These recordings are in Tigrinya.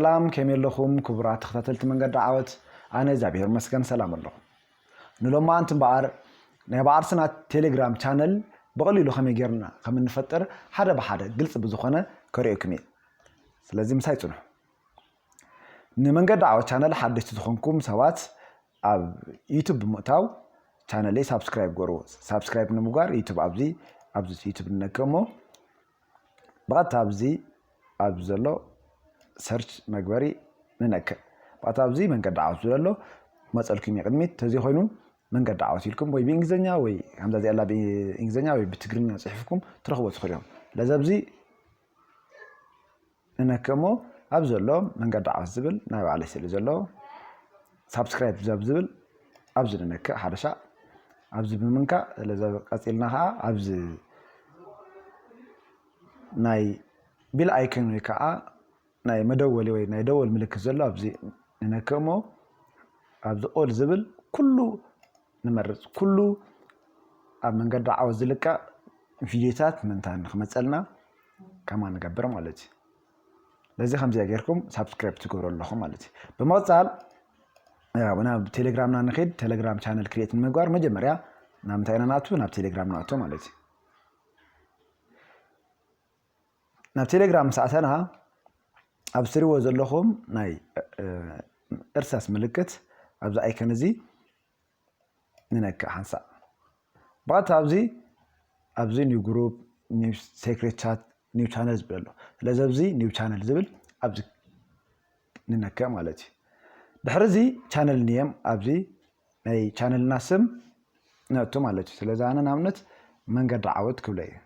ሰላም ከመይ ኣለኹም ክቡራት ተኸታተልቲ መንገዲ ዓወት ኣነ እግዚኣብሔር ይመስገን ሰላም ኣለኹ ንሎማዓንቲ እምበኣር ናይ ባዕርስና ቴሌግራም ቻነል ብቐሊሉ ከመይ ጌርና ከም እንፈጥር ሓደ ብሓደ ግልፂ ብዝኾነ ከርእየኩም እየ ስለዚ ምሳይ ፅንሑ ንመንገዲ ዓወት ቻነል ሓደሽቲ ዝኾንኩም ሰባት ኣብ ዩቱብ ብምእታው ቻነለይ ሳብስክራይብ ገርዎ ሳብስክራይብ ንምጓር ዩቱብ ኣብዚ ኣብዚ ዩቱብ ንነከ እሞ ብቐጥታ ኣብዚ ኣብ ዘሎ ሰርች መግበሪ ንነክእ ብቐጥታ ኣብዚ መንገዲ ዓወት ዝብል ኣሎ መፀልኩም እዩ ቅድሚት ተዘይኮይኑ መንገዲ ዓወት ኢልኩም ወይ ብእንግሊዝኛ ወይ ከምዛ እዚኣላ ብእንግሊዝኛ ወይ ብትግርኛ ፅሒፍኩም ትረኽቦ ትኽእሉ እዮም ለዘብዚ እነከ እሞ ኣብ ዘሎ መንገዲ ዓወት ዝብል ናይ ባዕለይ ስእሊ ዘለዎ ሳብስክራይብ ዘብ ዝብል ኣብዚ ንነክእ ሓደሻ ኣብዚ ብምንካእ ስለዚ ቀፂልና ከዓ ኣብዚ ናይ ቢል ኣይከን ወይ ከዓ ናይ መደወሊ ወይ ናይ ደወል ምልክት ዘሎ ኣብዚ ንነክእ እሞ ኣብዚ ኦል ዝብል ኩሉ ንመርጽ ኩሉ ኣብ መንገዲ ዓወት ዝልቀቅ ቪድዮታት ምንታ ንክመጸልና ከማ ንገብር ማለት እዩ ለዚ ከምዚኣ ጌርኩም ሳብስክራይብ ትገብሩ ኣለኹም ማለት እዩ ብምቕፃል ናብ ቴሌግራምና ንኸድ ቴሌግራም ቻነል ክሬት ንምግባር መጀመርያ ናብ ምንታይ ኢና ንኣቱ ናብ ቴሌግራም ንኣቱ ማለት እዩ ናብ ቴሌግራም ምስ ኣተና ኣብ ትሪዎ ዘለኹም ናይ እርሳስ ምልክት ኣብዚ ኣይከን እዚ ንነክእ ሓንሳእ ብቐጥታ ኣብዚ ኣብዚ ኒው ግሩፕ ኒው ሴክሬት ቻት ኒው ቻነል ዝብል ኣሎ ስለዚ ኣብዚ ኒው ቻነል ዝብል ኣብዚ ንነክእ ማለት እዩ ድሕሪ እዚ ቻነል ንየም ኣብዚ ናይ ቻነልና ስም ነእቱ ማለት እዩ ስለዚ ኣነ ንኣብነት መንገዲ ዓወት ክብለ እዩ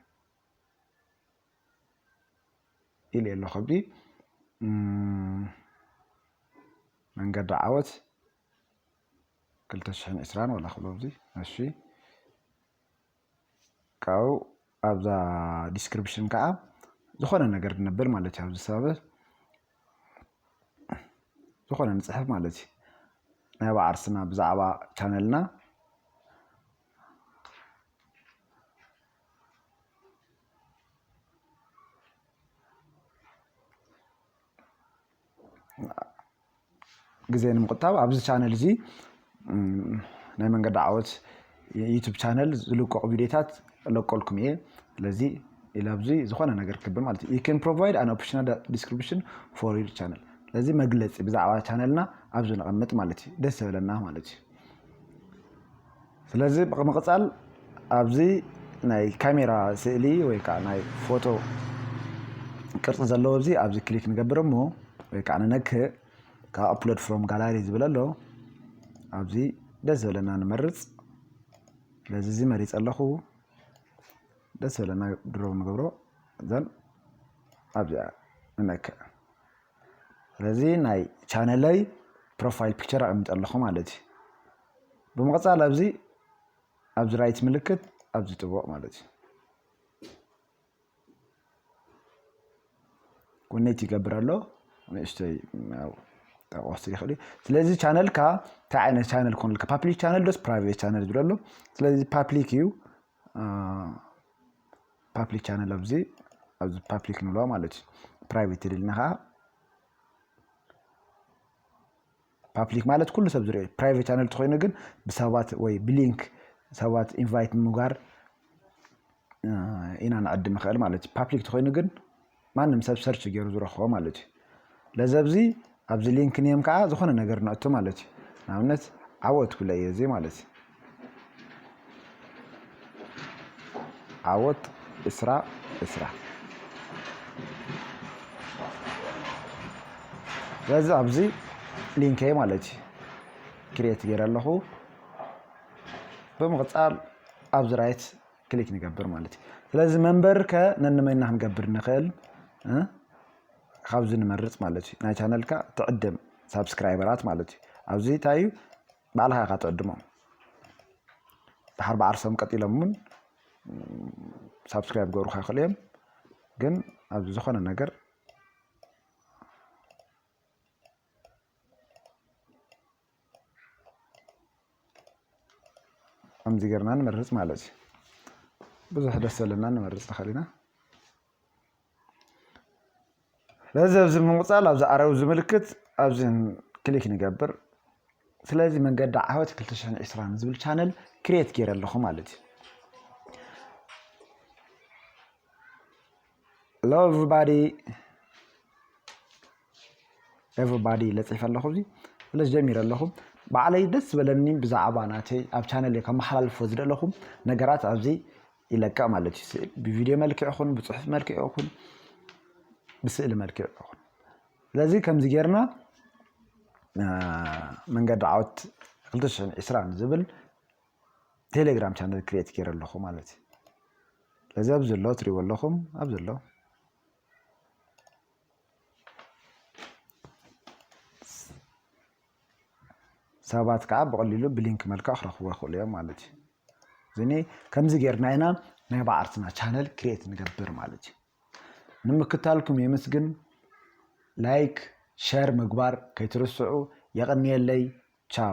ኢልየ ኣለኹ ከብዲ መንገዲ ዓወት ክልተ ሽሕን ዕስራን ወላ ክብሎ ኣብዚ እሺ ካብኡ ኣብዛ ዲስክሪፕሽን ከዓ ዝኾነ ነገር ንብል ማለት እዩ ኣብዚ ሰባብ ዝኾነ ንፅሕፍ ማለት እዩ ናይ ባዓርስና ብዛዕባ ቻነልና ግዜ ንምቁጣብ ኣብዚ ቻነል እዚ ናይ መንገዲ ዓወት ዩቱብ ቻነል ዝልቀቁ ቪድዮታት ለቀልኩም እየ ስለዚ ኢላ ኣብዚ ዝኾነ ነገር ክብ ማለት እዩ ዩን ፕሮቫይድ ኣን ኦፕሽናል ዲስክሪፕሽን ፎር ዩር ቻነል ስለዚ መግለፂ ብዛዕባ ቻነልና ኣብዚ ንቐምጥ ማለት እዩ ደስ ዘበለና ማለት እዩ ስለዚ ብምቕጻል ኣብዚ ናይ ካሜራ ስእሊ ወይ ከዓ ናይ ፎቶ ቅርፂ ዘለዎ እዚ ኣብዚ ክሊክ ንገብር እሞ ወይ ከዓ ንነክእ ካብ ኣፕሎድ ፍሮም ጋላሪ ዝብል ኣሎ ኣብዚ ደስ ዝበለና ንመርፅ ስለዚ እዚ መሪፀ ኣለኹ ደስ ዝበለና ድሮ ንገብሮ ዘን ኣብዚኣ ንነክእ ስለዚ ናይ ቻነለይ ፕሮፋይል ፒክቸር ኣቐሚጠ ኣለኹ ማለት እዩ ብምቕጻል ኣብዚ ኣብዚ ራይት ምልክት ኣብዚ ጥቡቕ ማለት እዩ ኮኔት ይገብር ኣሎ ንእሽተይ ጠቆስ ይኽእል እዩ ስለዚ ቻነልካ እንታይ ዓይነት ቻነል ኮንልካ ፓብሊክ ቻነል ዶስ ፕራይቬት ቻነል ዝብል ኣሎ ስለዚ ፓብሊክ እዩ ፓብሊክ ቻነል ኣብዚ ኣብዚ ፓብሊክ ንብሎ ማለት እዩ ፕራይቬት ይደልና ከዓ ፓፕሊክ ማለት ኩሉ ሰብ ዝሪኦ እዩ። ፕራይቨት ቻነል ተኮይኑ ግን ብሰባት ወይ ብሊንክ ሰባት ኢንቫይት ምጋር ኢና ንዕድም ንኽእል ማለት እዩ። ፓፕሊክ ተኮይኑ ግን ማንም ሰብ ሰርች ገይሩ ዝረክቦ ማለት እዩ። ለዘብዚ ኣብዚ ሊንክ ኔም ከዓ ዝኾነ ነገር ነእቱ ማለት እዩ። ንኣብነት ዓወት ክብለ እየ እዚ ማለት እዩ። ዓወት እስራ እስራ ስለዚ ኣብዚ ሊንከይ ማለት እዩ ክሬት ገይረ ኣለኹ ብምቕፃል ኣብዚ ራይት ክሊክ ንገብር ማለት እዩ ስለዚ መንበር ከ ነንመይና ክንገብር ንኽእል ካብዚ ንመርፅ ማለት እዩ ናይ ቻነልካ ትዕድም ሳብስክራይበራት ማለት እዩ ኣብዚ እንታይ እዩ ባዕልኻ ኢኻ ትዕድሞም ድሓር ብዓርሶም ቀጢሎም እውን ሳብስክራይብ ክገብሩካ ይኽእሉ እዮም ግን ኣብዚ ዝኾነ ነገር ከምዚ ጌርና ንመርፅ ማለት እዩ ብዙሕ ደስ ዘለና ንመርፅ ንኽእል ኢና ስለዚ ኣብዚ ብምቕጻል ኣብዚ ኣረው ዝምልክት ኣብዚ ክሊክ ንገብር ስለዚ መንገዲ ዓወት 220 ዝብል ቻነል ክሬት ገይረ ኣለኹ ማለት እዩ Hello everybody ኤቨሪባዲ ለፂፈ ኣለኹ እዚ ስለዚ ጀሚረ ኣለኹ ባዕለይ ደስ ዝበለኒ ብዛዕባ ናተይ ኣብ ቻነል ከመሓላልፎ ዝደለኹ ነገራት ኣብዚ ኢለካ ማለት እዩ ስእሊ ብቪድዮ መልክዕ ይኹን ብፅሑፍ መልክዕ ይኹን ብስእሊ መልክዕ ይኹን ስለዚ ከምዚ ጌርና መንገዲ ዓወት 220 ዝብል ቴሌግራም ቻነል ክሬት ገይረ ኣለኹ ማለት እዩ ስለዚ ኣብ ዘሎ ትሪእዎ ኣለኹም ኣብ ዘሎ ሰባት ከዓ ብቐሊሉ ብሊንክ መልክዕ ክረኽቡ ይኽእሉ እዮም ማለት እዩ ዝኒ ከምዚ ጌርና ኢና ናይ ባዕርትና ቻነል ክሬት ንገብር ማለት እዩ ንምክታልኩም የመስግን ላይክ ሸር ምግባር ከይትርስዑ የቐንየለይ ቻው